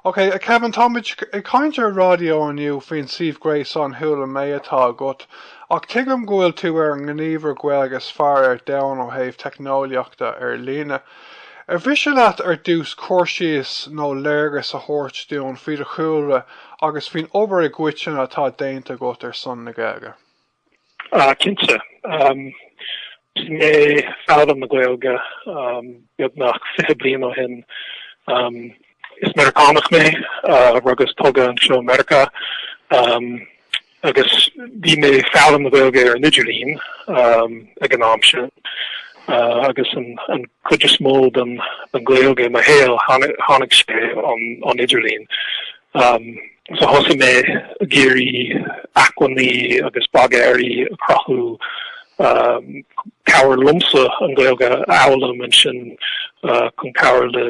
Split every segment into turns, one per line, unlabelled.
Ok, a Kevin, táimid ag caint ar raidió inniu faoin suíomh gréasáin Chuala Mé atá agat, ach tuigim go bhfuil tú ar an ngníomhaire Gaeilge is fearr ar domhan ó thaobh teicneolaíochta ar líne. Ar mhiste leat ar dtús cur síos nó léargas a thabhairt dúinn faoi do chúlra agus faoin obair i gcoitinne atá déanta agat ar son na Gaeilge?
Cinnte. Thosaigh mé ag foghlaim na Gaeilge beagnach fiche bliain ó shin. Is Meiriceánach mé, rugadh is tógadh anseo i Meiriceá agus bhí mé ag foghlaim na Gaeilge ar an idirlíon ag an am sin agus an cuid is mó den Ghaeilge i mo shaol, tháinig sé ón idirlíon. So thosaigh mé ag iarraidh acmhainní agus bogearraí a chruthú, cabhair liomsa an Ghaeilge a fhoghlaim ansin chun cabhair le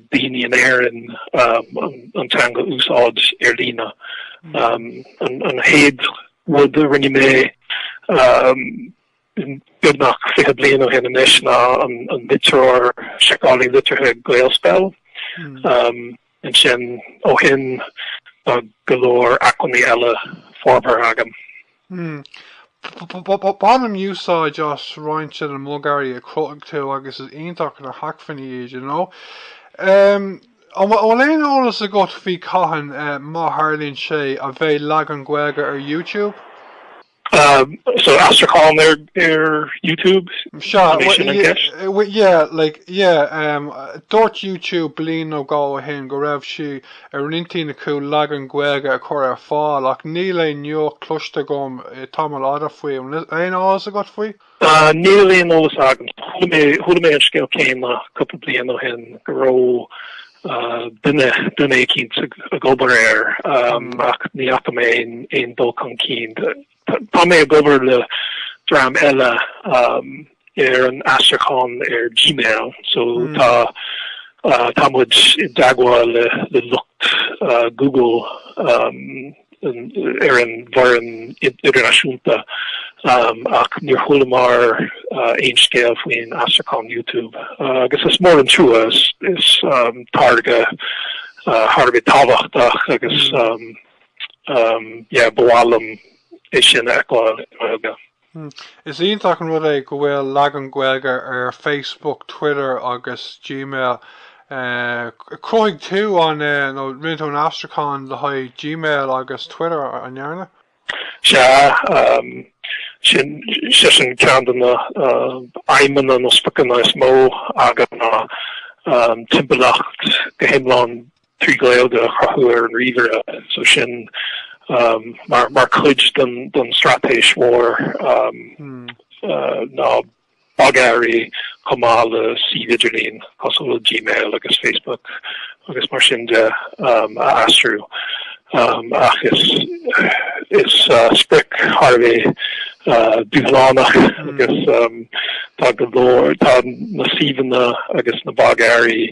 daoine in Éirinn an teanga a úsáid ar líne. An chéad rud a rinne mé, beagnach fiche bliain ó shin anois ná an litreoir seiceálaí litrithe GaelSpell. Ansin ó shin tá go leor acmhainní eile forbartha agam.
Bainim úsáid as roinnt de na bogearraí a chruthaigh tú agus is iontach na hacmhainní iad, you know. An bhfuil aon eolas agat faoi cathain, má tharlaíonn sé, a bheidh leagan Gaeilge ar YouTube?
So aistriúchán ar ar YouTube? An é sin an ceist? bhuel yeah
like yeah Dúirt YouTube bliain nó dhó ó shin go raibh sé ar intinn acu leagan Gaeilge a chur ar fáil ach níl aon nuacht cloiste agam le tamall fada faoi. An bhfuil aon fhios agat faoi? Níl
aon eolas agam. Chuala mé an scéal céanna cúpla bliain ó shin go raibh duine éicínt ag obair air ach ní fhaca mé aon dul chun cinn. Tá mé ag obair le dream eile ar an aistriúchán ar Gmail so tá tá muid i dteagmháil le lucht Google. ar an bhfoireann idirnáisiúnta ach níor chualamar aon scéal faoin aistriúchán YouTube agus is mór an trua, is táirge thar a bheith tábhachtach agus yeah ba mhaith liom é sin a fheiceáil i nGaeilge. Hmm.
Is iontach an rud é go bhfuil leagan Gaeilge ar Facebook, Twitter agus Gmail. Chruthaigh tú an, nó rinne tú an aistriúchán le haghaidh Gmail agus Twitter, an ndearna?
Sea. Sin sin ceann de na aidhmeanna nó spriocanna is mó agam ná timpeallacht go hiomlán trí Ghaeilge a chruthú ar an ríomhaire, so sin mar chuid den straitéis mhór na bogearraí chomh maith le suímh idirlín cosúil le Gmail agus Facebook agus mar sin de a aistriú ach is sprioc í thar a bheith dúshlánach agus tá go leor, tá na suíomhanna agus na bogearraí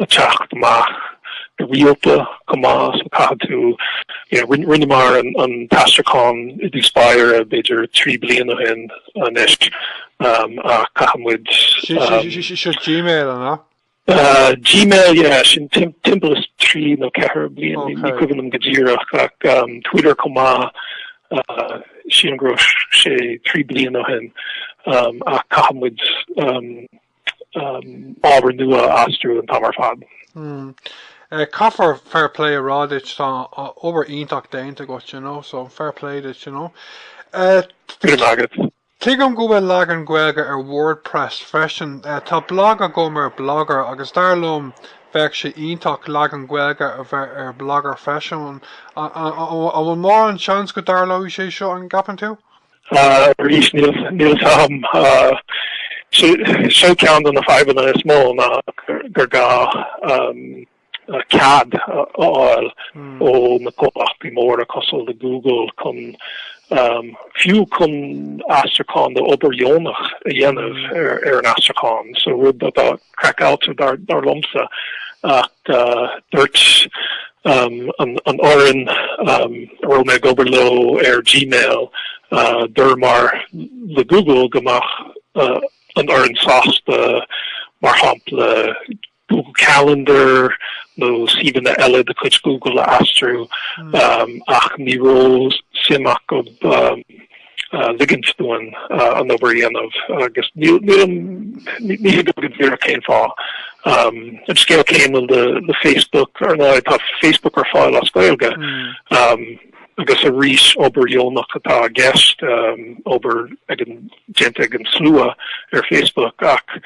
teacht amach go rialta chomh maith so caithfidh tú. Rinneamar an t-aistriúchán i dtús báire b'fhéidir trí bliain ó shin anois ach caithfidh muid. Seo
Gmail an ea?
Gmail, yeah, sin timpeall is trí nó ceathair bliain, ní cuimhin liom go díreach ach Twitter chomh maith, sílim go raibh sé trí bliain ó shin ach caithfidh muid. ábhar nua a aistriú an t-am ar fad.
Caithfear fair play a rá duit, tá obair iontach déanta agat you know, so fair play duit you know. Go raibh maith agat. Tuigim go bhfuil leagan Gaeilge ar WordPress freisin. Tá blag agam ar Blogger agus dar liom bheadh sé iontach leagan Gaeilge a bheith ar Blogger freisin. An bhfuil mórán seans go dtarlóidh sé seo an gceapann tú?
Arís, níl a fhios agam. Seo ceann de na fadhbanna is mó ná gur gá cead a fháil ó na comhlachtaí móra cosúil le Google chun, fiú chun aistriúchán d'obair dheonach a dhéanamh ar an aistriúchán, so rud atá craiceáilte dar liomsa ach dúirt an fhoireann a raibh mé ag obair leo ar Gmail dúramar le Google go mbeadh an fhoireann sásta mar shampla Google Calendar nó suíomhanna eile de chuid Google a aistriú ach ní raibh suim acu ligint dúinn an obair a dhéanamh agus níl, ní thuigim go díreach cén fáth. An scéal céanna le Facebook, ar ndóigh tá Facebook ar fáil as Gaeilge agus arís obair dheonach atá i gceist, obair ag an, déanta ag an slua ar Facebook ach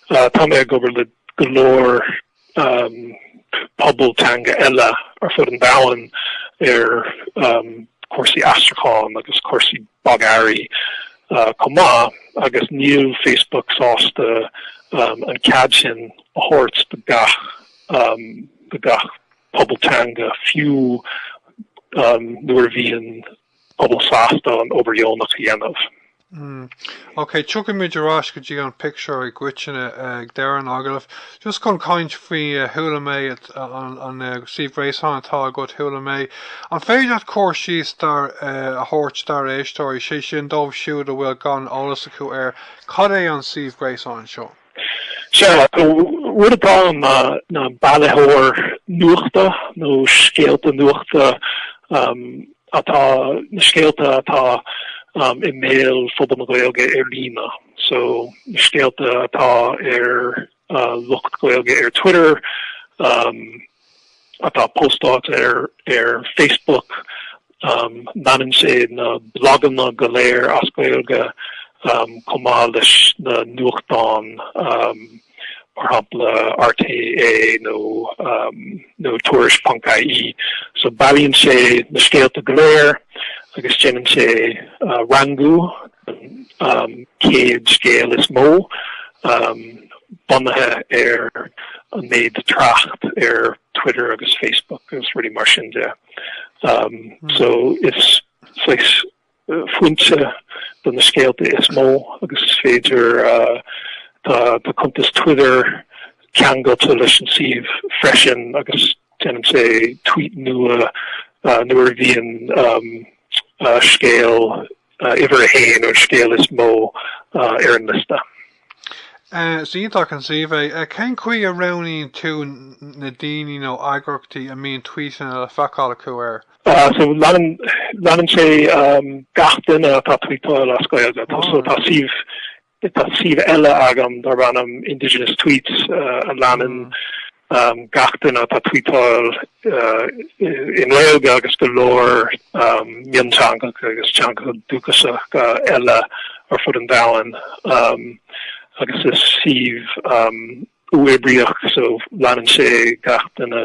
tá mé ag obair le go leor pobail teanga eile ar fud an domhain ar chúrsaí aistriúcháin agus cúrsaí bogearraí chomh maith agus níl Facebook sásta an cead sin a thabhairt do gach do gach pobal teanga fiú nuair a bhíonn pobal sásta an obair dheonach a
dhéanamh. Mm. Ok, tiocfaimid ar ais go dtí an pictiúr i gcoitinne ag deireadh an agallaimh. Just chun caint faoi eh, chuala mé an eh, suíomh gréasáin atá agat chuala mé. An féidir leat cur síos dár eh, a thabhairt dár éisteoirí, sé sin dóibh siúd a bhfuil gan eolas acu ar cad é an suíomh gréasáin seo? Sea,
an rud atá ann ná ná bailitheoir nuachta nó scéalta nuachta atá, na scéalta atá i mbéal phobal na Gaeilge ar líne, so na scéalta atá ar lucht Gaeilge ar Twitter, atá póstáilte ar Facebook, leanann sé na bloganna go léir as Gaeilge chomh maith leis na nuachtáin mar shampla RTÉ nó Tuairisc ponc IE. So bailíonn sé na scéalta go léir agus déanann sé rangú an céad scéal is mó bunaithe ar an méid trácht ar Twitter agus Facebook agus rudaí mar sin de so is foinse do na scéalta is mó agus is féidir tá cuntas Twitter ceangailte leis an suíomh freisin agus déanann sé tweet nua nuair a bhíonn scéal Uimhir a haon, an scéal is mó ar an liosta. Is
iontach an suíomh é. Cén chaoi a roghnaíonn tú na daoine nó eagraíochtaí a mbíonn tvuíteanna le feiceáil acu
air? So leanann sé gach duine atá ag tvuíteáil as Gaeilge. So tá suíomh Tá suíomh eile agam darb ainm Indigenous Tweets a leanann gach duine atá tweetáil i nGaeilge agus go leor mionteangacha agus teangacha dúchasacha eile ar fud an domhain agus is suíomh uathoibríoch so leanann sé gach duine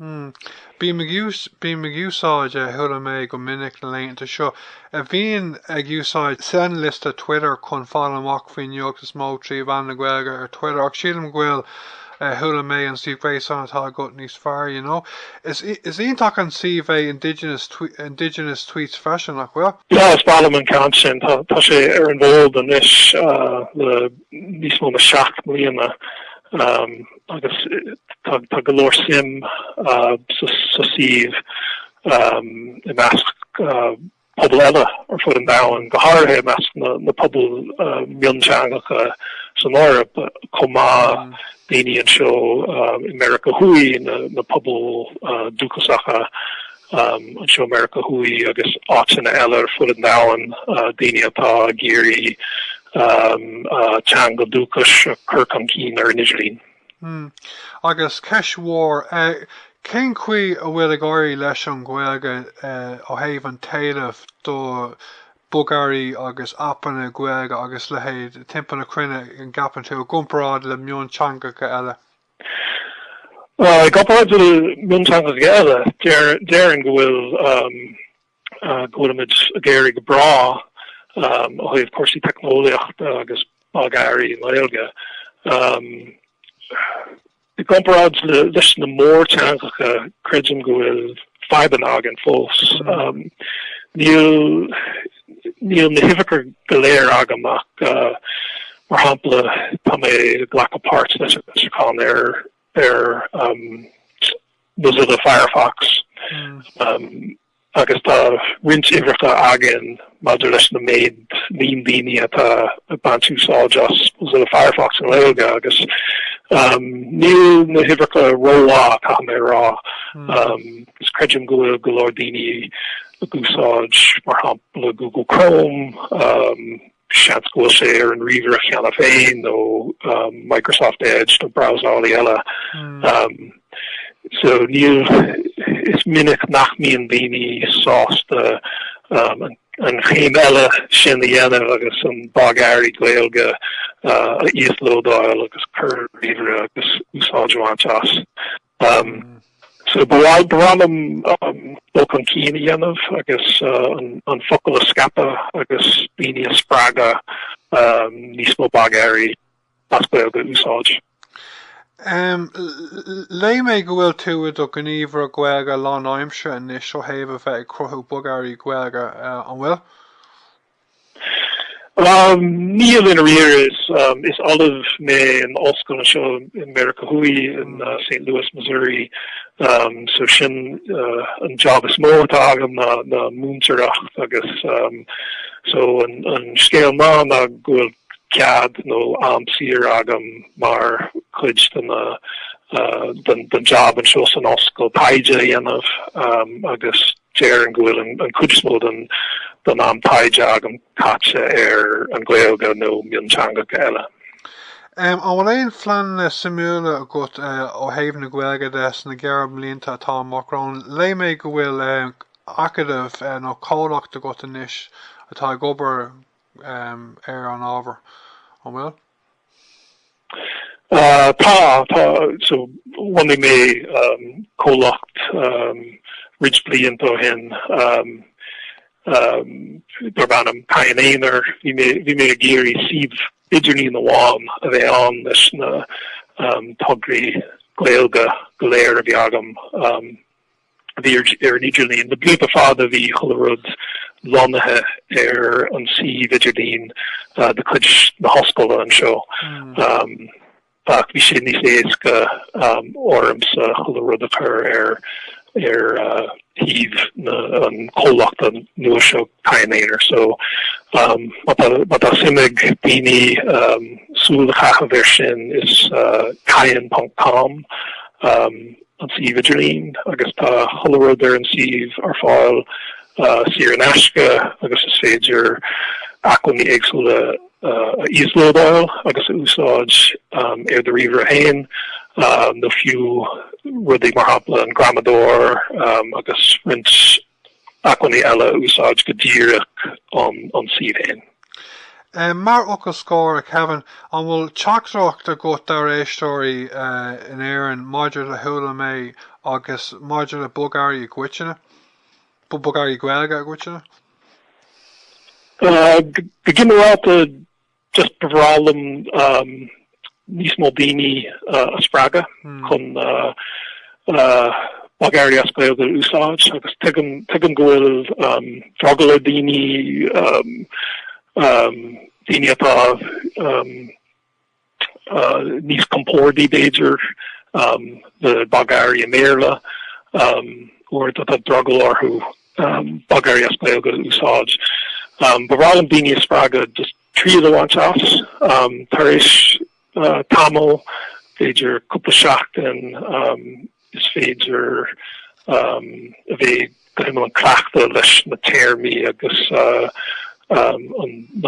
Hmm. Bím ag ús, bím ag úsáid eh, chuala mé go minic na laethanta seo, eh, bhínn ag úsáid seanliosta Twitter chun fáil amach faoin nuacht is mó trí mheán na Gaeilge ar Twitter ach sílim go bhfuil eh, chuala mé an suíomh gréasáin atá agat níos fearr, you know. Is, is iontach an suíomh é Indigenous, Twe- Indigenous Tweets freisin, nach bhfuil? Yeah, is maith liom an
ceann sin. Tá tá sé ar an bhfód anois uh, le níos mó ná seacht mbliana. Um, agus tá go leor suim sa suíomh i measc pobal eile ar fud an domhain, go háirithe i measc na bpobal mionteangacha san Eoraip chomh maith, daoine anseo i Meiriceá Thuaidh, na pobail dúchasacha anseo, Meiriceá Thuaidh agus áiteanna eile ar fud an domhain, daoine atá ag iarraidh teanga dúchais a chur chun cinn ar
an idirlíon.
Agus ceist mhór,
cén chaoi a bhfuil ag éirí leis an Ghaeilge ó thaobh an t-éileamh do bhogearraí agus aipeanna Gaeilge agus leithéid timpeall na cruinne, an gceapann tú, i gcomparáid le mionteangacha eile?
I gcomparáid le mionteangacha eile, déarfainn go bhfuil go bhfuil muid ag éirí go breá ó thaobh cúrsaí teicneolaíochta agus bogearraí i nGaeilge. I gcomparáid leis na mórtheangacha, creidim go bhfuil fadhbanna againn fós. Níl na huimhreacha go léir agam ach mar shampla tá mé ag glacadh páirt leis an aistriúchán ar Mozilla Firefox agus tá roinnt uimhreacha againn maidir leis na méid líon daoine atá ag baint úsáid as Mozilla Firefox i nGaeilge agus níl na huimhreacha rómhaith caithfidh mé a rá. Is creidim go bhfuil go leor daoine ag úsáid mar shampla Google Chrome, seans go bhfuil sé ar an ríomhaire cheana féin, nó Microsoft Edge nó brabhsálaí eile. So níl, is minic nach mbíonn daoine sásta an chéim eile sin a dhéanamh agus an bogearraí Gaeilge a íoslódáil agus a chur ar ríomhaire agus úsáid a bhaint as. So ba bhreá liom dul chun cinn a dhéanamh agus an focal a scaipeadh agus daoine a spreagadh níos mó bogearraí as Gaeilge a
úsáid. Léigh mé go bhfuil tú i do ghníomhaire Gaeilge lánaimseartha anois ó thaobh a bheith ag cruthú bogearraí Gaeilge, an bhfuil?
Níl i ndáiríre. Is, is ollamh mé in ollscoil anseo i Meiriceá Thuaidh, in St. Louis, Missouri, so sin an jab is mó atá agam ná múinteoireacht agus so an scéal maith ná go bhfuil cead nó am saor agam mar chuid den jab anseo san ollscoil taighde a dhéanamh agus déarfainn go bhfuil an cuid is mó den am taighde agam caite ar an Gaeilge nó mionteangacha eile. An
bhfuil aon phleananna suimiúla agat ó thaobh na Gaeilge de sna gearrbhlianta atá amach romhainn? Léigh mé go bhfuil acadamh nó comhlacht agat anois atá ag obair ar an ábhar, an bhfuil?
Tá, tá. So bhunaigh mé comhlacht roinnt blianta ó shin darb ainm Cadhan Aonair. Bhí mé ag iarraidh suíomh idirlín amháin a bheith ann leis na tograí Gaeilge go léir a bhí agam. Bhí ar an idirlíon le blianta fada bhí chuile rud lonnaithe ar an suíomh idirlín de chuid na hOllscoile anseo ach bhí sé níos éasca ormsa chuile rud a chur ar shuíomh an chomhlachta nua seo, Cadhan Aonair. So má tá suim ag daoine súil a chaitheamh air sin is cadhan ponc com. an suíomh idirlín agus tá chuile rud ar an suíomh ar fáil saor in aisce agus is féidir acmhainní éagsúla a íoslódáil agus a úsáid ar do ríomhaire féin nó fiú rudaí mar shampla an Gramadóir agus roinnt acmhainní eile a úsáid go díreach ón suíomh féin.
Mar fhocal scoir, a Kevin, an bhfuil teachtaireacht agat dár éisteoirí in Éirinn maidir le Chuala mé agus maidir le bogearraí i gcoitinne, bogearraí Gaeilge i gcoitinne?
Go ginearálta, Just ba bhreá liom níos mó daoine a spreagadh chun bogearraí as Gaeilge a úsáid agus tuigim go bhfuil drogall ar dhaoine, daoine atá níos compordaí b'fhéidir le bogearraí i mBéarla, uaireanta tá drogall orthu bogearraí as Gaeilge a úsáid. Ba bhreá liom daoine a spreagadh just triail a bhaint as tar éis tamaill, b'fhéidir cúpla seachtain, is féidir a bheith go hiomlán cleachta leis na téarmaí agus na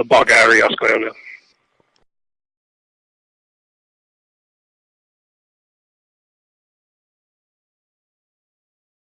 bogearraí as Gaeilge.